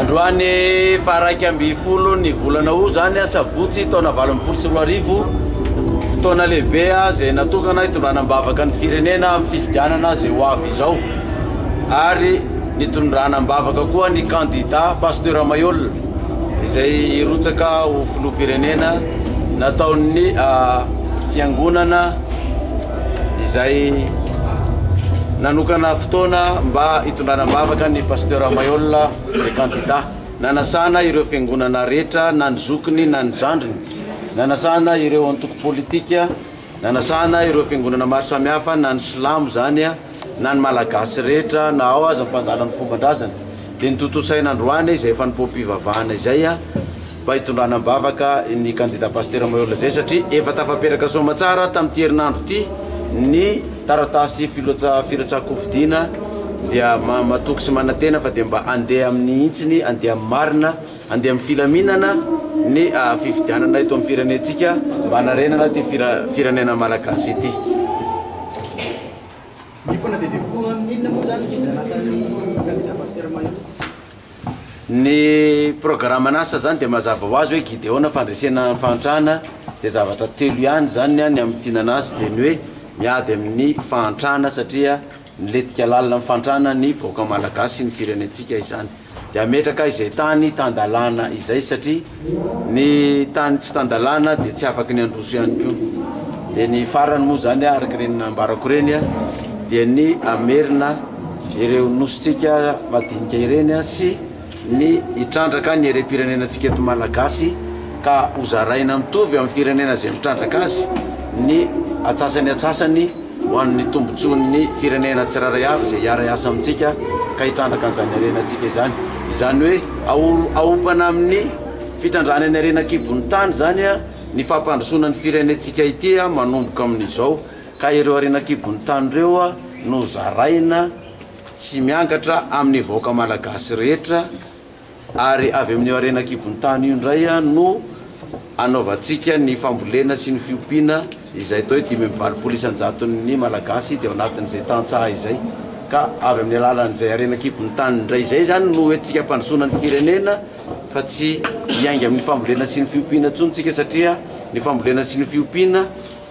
Androany faha iraika ambin'ny folo ny volana Août izany, asabotsy, taona valo ambin'ny folo sy roa arivo, fotoana lehibe izay natokana hitondrana am-bavaka ny firenena amin'ny fifidianana izay ho avy izao ary nitondrana am-bavaka koa ny kandida Pasteur Maihol izay hirotsaka ho filoham-pirenena nataon'ny fiangonana izay nanokana fotoana mba hitondrana am-bavaka ny Pasteur Maihol le candidat, nanasana ireo fiangonana rehetra na ny zokiny na ny zandriny, nanasana ireo antoko politika, nanasana ireo fiangonana maro samihafa na ny silamo izany, na ny Malagasy rehetra na ao aza ny mpandala ny fomban-drazany dia notontosaina androany izay fanompoam-pivavahana izay mba hitondrana am-bavaka ny kandida Pasitera Mahery Lazay satria efa tafaperaka soamatsara tamin'ity herinandro ity ny taratasy filoatsa firotsahan-kofidina dia matoky sy manantena fa dia mba andeha amin'ny hintsiny andeha amin'ny marina andeha amin'ny filaminana ny fifidianana eto amin'ny firenentsika mba hanarenana ity firenena Malagasy ity Ny himpona dia be kokoa amin'ny inona moa izany ny vidin'asan'ny kandida Pasitera Mahery? Ny programan'asa izany dia mazava ho azy hoe Gideona, fandresena fahantrana, dia zavatra telo ihany izany ny ahy ny amin'ny tiana an'asa dia ny hoe miady amin'ny fahantrana satria nilentika lalina amin'ny fahantrana ny vahoaka malagasy sy ny firenentsika izany. Dia hametraka izay tany tan-dalàna izay satria ny tany tsy tan-dalàna dia tsy afaky ny handroso ihany koa. Dia ny farany moa izany araka ireny nambarako ireny dia ny hamerina ireo nosintsika madinika ireny sy ny hitrandraka ny harem-pirenenantsika eto Malagasy ka hozaraina mitovy amin'ny firenena izay mitrandraka azy ny atsasany atsasany ho an'ny tombontsoan'ny firenena tsirairay avy izay hiara-hiasa amintsika ka hitrandraka an'izany harenantsika izany. Izany hoe aompana amin'ny fitrandrahana ny harena an-kibon'ny tany izany ny fampandrosoana ny firenentsika ity manomboka amin'izao ka ireo harena an-kibon'ny tany ireo no zaraina tsy miangatra amin'ny vahoaka malagasy rehetra ary avy amin'io harena an-kibon-tany io indray no anaovantsika ny fambolena sy ny fiompiana izay toa hoe dimy amby valopolo isan-jaton'ny Malagasy dia ao anatin'izay tantsaha izay ka avy amin'ny alalan'izay harena an-kibon'ny tany indray izay izany no hoentintsika hampandrosoana ny firenena fa tsy hiainga amin'ny fambolena sy ny fiompiana intsony tsika satria ny fambolena sy ny fiompiana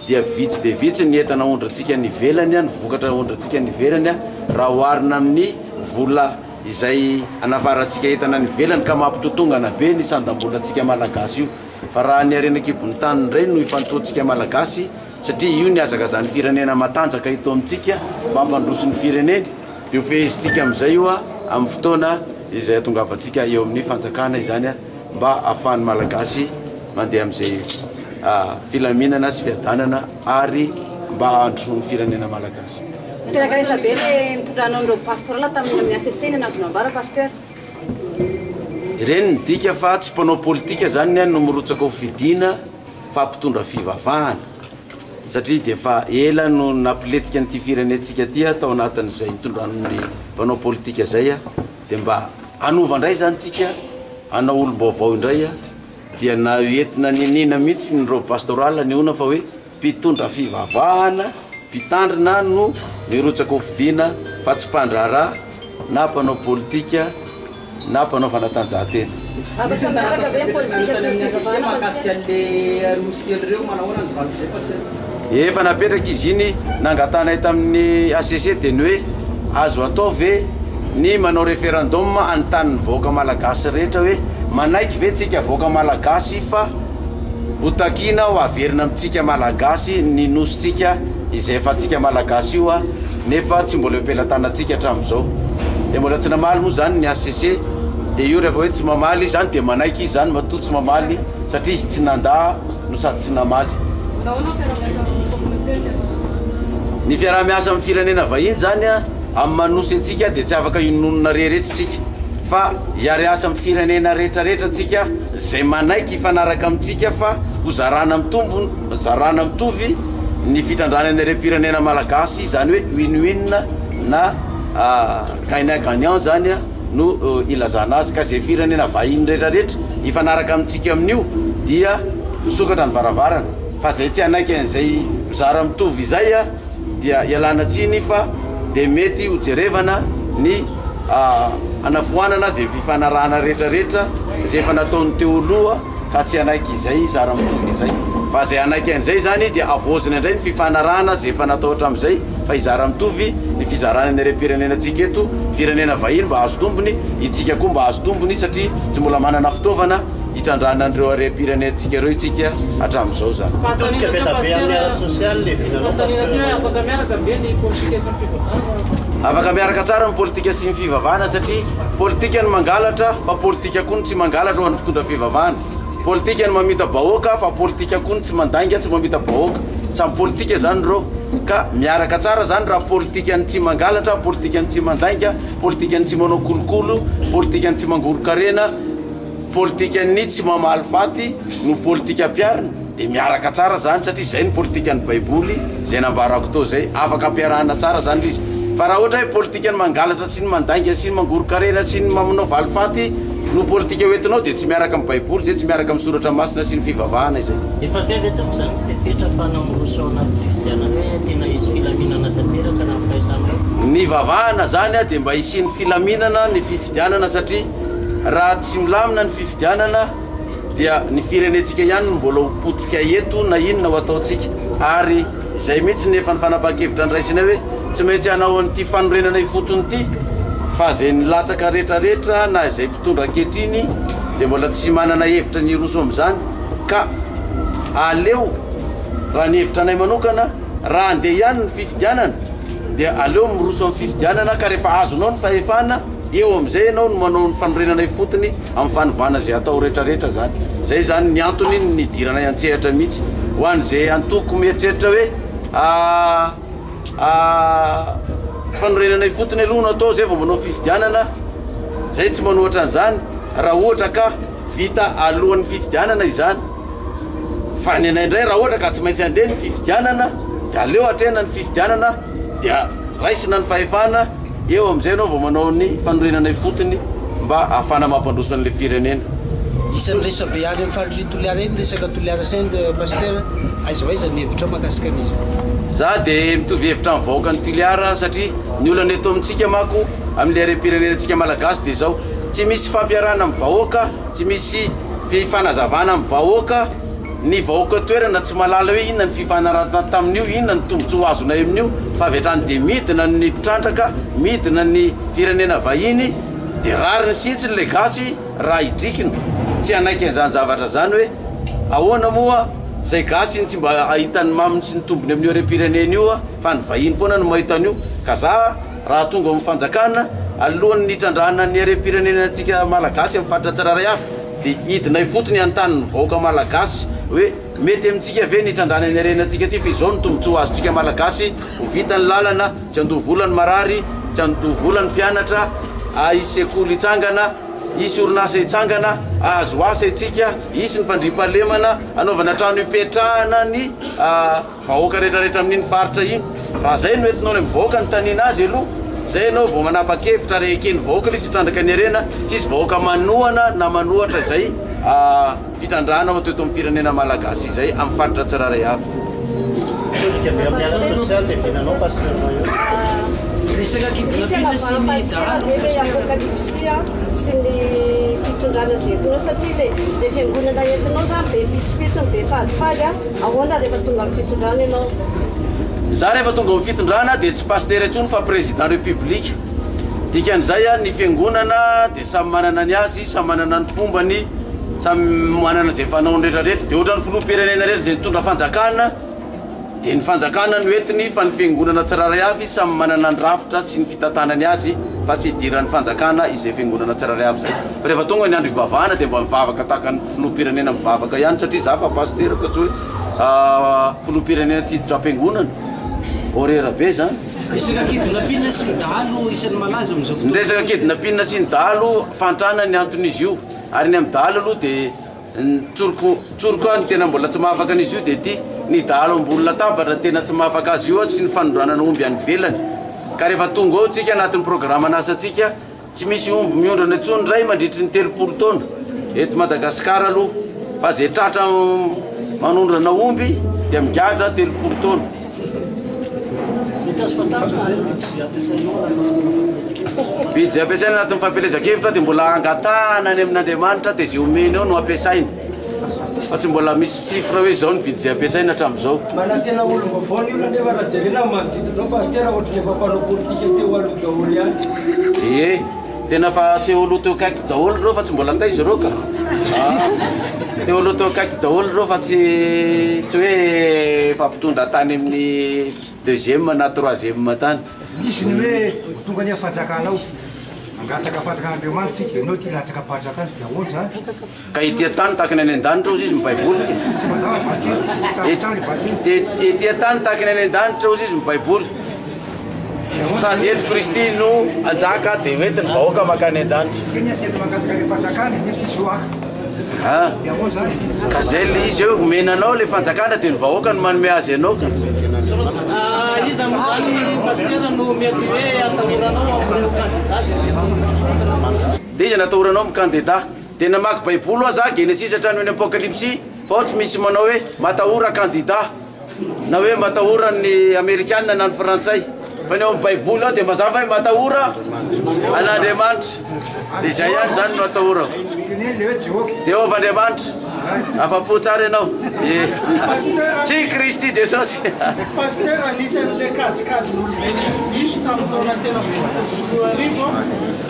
dia vitsy dia vitsy ny entana ondrintsika any ivelany, ny vokatra ondrintsika any ivelany raha oharina amin'ny vola izay anafarantsika entana any ivelany ka mampitotongana be ny sandam-bolantsika malagasy io fa raha ny harena an-kibon'ny tany indray no ifantohantsika malagasy satria io ny hazakazan'ny firenena matanjaka eto amintsika mampandroso ny fireneny dia ho fehezintsika amin'izay io amin'ny fotoana izay hatongavantsika eo amin'ny fanjakana izany mba hahafahan'ny Malagasy mandeha amin'izay filaminana sy fiadanana ary mba hahandrosoan'ny firenena Malagasy. Niteraka resa be le nitondranao an'ireo pastoral tamin'ny amin'ny HCC ny an'azo nambara Pasteur. Ireny midika fa tsy mpanao politika zany ny any no mirotsaka ho fidiana fa mpitondra fivavahana satria dia efa ela no napiletika an'ity firenentsika ity tao anatin'izay nitondran'ny mpanao politika zay Dia mba hanova indray izany tsika hanao olom-baovao indray a! Dia na entina niniana mihitsy ny robe pastorale anehoana fa hoe mpitondra fivavahana, mpitandrina no mirotsaka ho fidiana fa tsy mpandraharaha na mpanao politika na mpanao fanatanjahantena. Misy ny taratasy napetraka nanontanian'ny HCC mahakasika an'ilay Nosy kely ireo, manahoana ny valin'izay Pasteur? Efa napetraka izy iny nangatanay tamin'ny HCC dia ny hoe azo atao ve ny manao referendum hanontani'ny vahoaka malagasy rehetra hoe manaiky ve tsika vahoaka malagasy fa ho takiana ho averina amintsika malagasy ny Nosintsika izay efa antsika malagasy io a nefa tsy mbola eo am-pelatanantsika hatramin'izao dia mbola tsy namaly moa izany ny hcc dia io rehefa hoe tsy mamaly izy izany dia manaiky izy izany matoa tsy mamaly satria izy tsy nandà no sady tsy namaly ny fiaraha-miasa amin'ny firenena vahiny izany a amin'ny manosy antsika dia tsy afaka inonona rery eto tsika fa hiariasa amin'ny firenena rehetrarehetra antsika izay manaiky hifanaraka amintsika fa hozarana amin'ny tombony Nozarana mitovy ny fitrandrahana ny harem-pirenena malagasy, izany hoe win-win na gagnant gagnant izany no ilazana azy ka izay firenena vahiny rehetrarehetra hifanaraka amintsika amin'io dia misokatra ny varavarana fa izay tsy hanaiky an'izay mizara mitovy izay dia ialana tsiny fa dia mety ho jerevana ny hanafoanana izay fifanarahana rehetrarehetra izay efa nataony teo aloha. ka tsy hanaiky izay zara mitovy izay. Fa izay hanaiky an'izay izany dia havaozina indray ny fifanarahana izay efa natao hatramin'izay fa hizara mitovy ny fizarana ny harem-pirenenantsika eto, firenena vahiny mba hahazo tombony, itsika koa mba hahazo tombony satria tsy mbola manana fitaovana hitrandrahana an'ireo harem-pirenentsika ireo itsika hatramin'izao izany. Mitodika be da be amin'ny ara-tsosialy ny vinanao Pasteur. Afaka miaraka tsara ny politika sy ny fivavahana satria Politika ny mangalatra fa politika koa ny tsy mangalatra ho an'ny mpitondra fivavahana. Politika ny mamita bahoaka fa politika koa ny tsy mandainga tsy mamita bahoaka. Samy politika zany ireo ka miaraka tsara zany raha politika ny tsy mangalatra, politika ny tsy mandainga, politika ny tsy manao kolokolo, politika ny tsy mangoron-karena, politika ny tsy mamaly faty no politika ampiarina. Dia miaraka tsara izany satria izay ny politikan'ny Baiboly, izay nambara Couto izay. Afaka ampiarahana tsara izany ilay izy. Fa raha ohatra hoe politikan'ny mangalatra sy ny mandainga sy ny mangoron-karena sy ny manao valifaty no politika hoentinao dia tsy miaraka amin'ny Baiboly izay, tsy miaraka amin'ny Soratra Masina sy ny fivavahana izay. Efa avy ve tompoko izany ny fepetra fa namoros ao anaty fifidianana hoe tena hisy filaminana tanteraka raha ny fahitanao? Nivavahana izany dia mba hisian'ny filaminana ny fifidianana satria raha tsy milamina ny fifidianana dia ny firenentsika ihany no mbola ho potika eto na inona ho ataontsika ary izay mihitsy ny efa ny fanapahan-kevitra niraisinay hoe tsy maintsy hanao an'ity fanorenana ifotony ity fa izay nilatsaka rehetrarehetra na izay mpitondra ankehitriny dia mbola tsy manana hevitra ny hiroso amin'izany ka aleo raha ny hevitra anay manokana raha handeha ihany ny fifidianana dia aleo miroso amin'ny fifidianana ka rehefa azonao ny fahefana Eo amin'izay ianao no manao ny fanorenana ifotony amin'ny fanovana izay atao rehetrarehetra izany. Izay izany ny antony nidiranay an-tsehatra mihitsy. Ho an'izay antoko mieritreritra hoe fanorenana ifotony aloha no atao izay vao manao fifidianana, izay tsy manohatra an'izany raha ohatra ka vita alohan'ny fifidianana izany. Fa ny anay indray raha ohatra ka tsy maintsy handeha ny fifidianana dia aleo hatrehina ny fifidianana dia raisina ny fahefana. Eo amin'izay ianao vao manao ny fanorenana ifotony mba ahafahana mampandroso an'ilay firenena. Isan'ny resabe any amin'ny faritry Toliara iny ny resaka Toliara Saint Pasteur, aiza ho aiza ny hevitrao mahakasika an'izany? Za de mitovy hevitra am vahoaka ny Tuliara satria ny olana eto amintsika mako aminy harempirenena tsika malagasy de zao tsy misy fampiarana am vahoaka tsy misy fifanazavana am vahoaka Ny vahoaka eo toerana tsy mahalala hoe inona ny fifanarahana tamin'io, inona ny tombontsoa azonay amin'io fa avy hatrany dia midina ny mpitrandraka, midina ny firenena vahiny dia rariny sintsy ilay gasy raha idrikiny tsy hanaiky an'izany zavatra izany hoe ahoana moa izay gasy iny tsy mba hahita ny maminy sy ny tombony amin'io harem-pirenena io fa ny vahiny foana no mahita an'io ka za raha tonga amin'ny fanjakana alohan'ny hitrandrahana ny harem-pirenena antsika malagasy amin'ny faritra tsirairay avy Dia hidina ifotony hanontany ny vahoaka malagasy hoe mety amintsika ve ny hitrandrahana iny harena antsika ity fa izao ny tombotsoa azontsika malagasy ho vita ny lalana, tsy handoa vola ny marary, tsy handoa vola ny mpianatra, ahisy sekoly hitsangana, hisy orinasa hitsangana, ahazo asa itsika, hisy ny fandriampahalemana, hanaovana trano hipetrahana ny. vahoaka rehetra rehetra amin'iny faritra iny raha zay no entinao any amin'ny vahoaka ny taniana azy aloha zay ianao vao manapa-kevitra ary eken'ny vahoaka ilay izy hitrandraka ny harena tsy hisy vahoaka manohana na manohatra izay fitrandrahana ao teto amin'ny firenena malagasy izay amin'ny faritra tsirairay avy Ahoana rehefa tonga amin'ny fitondrana ianao? Izaho rehefa tonga amin'ny fitondrana dia tsy pasitera intsony fa président république. Dikan'izay an, ny fiangonana dia samy manana ny azy, samy manana ny fombany, samy manana izay fanaony rehetra rehetra. Dia ohatran'ny filoham-pirenena irery izay nitondra fanjakana dia ny fanjakana no entiny fa ny fiangonana tsirairay avy samy manana ny rafitra sy ny fitantanany azy fa tsy idiran'ny fanjakana izay fiangonana tsirairay avy izay. Fa rehefa tonga ny andro hivavahana dia mba mivavaka tahaka ny. Filoham-pirenena mivavaka ihany satria za fa pasitera fa tsy hoe filoham-pirenena tsy hiditra am-piangonana. Horreur be zany. Resaka kidnapping sy ny dahalo isan'ny malaza amin'izao fotoana. Ny resaka kidnapping sy ny dahalo fahantrana ny anton'izy io ary ny amin'ny dahalo aloha dia ny tsoriko tsoriko aho ny tena mbola tsy mahafaka an'izy io dia ity ny dahalo ambony latabatra no tena tsy mahafaka azy io sy ny fanondranana omby any ivelany ka rehefa tonga ao tsika anatin'ny programan'asantsika Tsy misy omby miondrana intsony indray mandritry ny telopolo taona eto Madagasikara aloha fa izay tratra manondrana omby dia migadra telopolo taona. Bijy ampiasaina anatin'ny fampielezan-kevitra dia mbola angatahana any amin'Andriamanitra dia izay omeny eo no ampiasaina. Fa tsy mbola misy chiffre hoe izao ny budget ampiasaina hatramin'izao. Manana tena olom-baovao ny olona nefa raha jerena ny manodidina anao Pasitera ohatry ny efa mpanao politika teo aloha daholo ihany. Ie, tena fa teo aloha teo akaiky daholo ireo fa tsy mbola taiza ireo ka. Ah, teo aloha teo akaiky daholo ireo fa tsy tsy hoe efa mpitondra tany amin'ny deuxième na troisième tany. Misy ny hoe ho tonga anie ny fanjakana ao, mangataka fanjakan'Andriamanitra tsika, ianao aty latsaka am-panjakana dia ahoana izany? Ka ety an-tany tahaka ny any an-danitra ozy izy mibaiboly. Ety an-tany tahaka ny any an-danitra ozy izy mibaiboly. Sady eto Kristy no anjaka dia hoentiny vahoaka makany an-danitra. Keny asy eto Makasikara ny fanjakana nefa tsisy hoaka. Ka zay le izy hoe omena anao le fanjakana dia ny vahoaka no manome azy anao ka. Iza moa zany Pasitera no mety hoe atahoranao amin'ireo kandida zay? Dia iza no atahoranao amin'ny kandida? Dia namaky baiboly hoa za genesisy hatrany eny apokalipsy fa ao tsy misy manao hoe matahora kandida na hoe matahora ny amerikana na ny frantsay fa ny ao am baiboly ao dia mazava hoe matahora an Andriamanitra dia izay ihany zany no atahorako Jehovah Andriamanitra afa-po tsara ianao eh tsy Kristy Jesosy Pasteur anisan'ilay kajikajin'olobe diso tamin'ny taona telo ambin'ny folo sy roa arivo aho.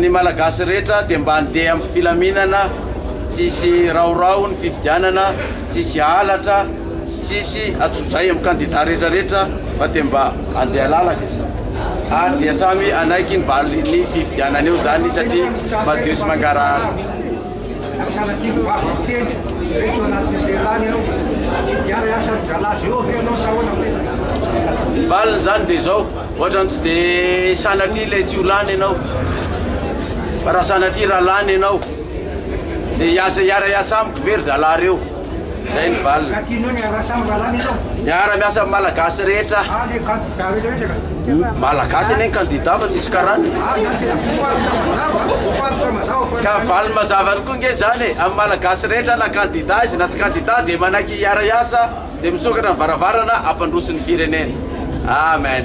Ny Malagasy rehetra dia mba andeha am filaminana tsisy raorao ny fifidianana tsisy halatra tsisy atsodray am kandida rehetra rehetra fa dia mba andeha lalaka izany ary dia samy anaiky ny valiny fifidianana eo zany satria madio sy mangarahara Ohatrany tsy dia sanatria ilay tsy ho lany ianao, fa raha sanatria raha lany ianao dia hiasa hiara hiasa amiko ve ry zalahy reo? Zay ny valiny. Miara miasa amin'ny Malagasy rehetra. Malagasy anie ny kandida fa tsisy karana e. Ka valiny mazava koa nge zany e, amin'ny Malagasy rehetra na kandida azy na tsy kandida azy dia manaiky hiara hiasa. Dia misokatra ny varavarana hampandroso ny firenena. Amen.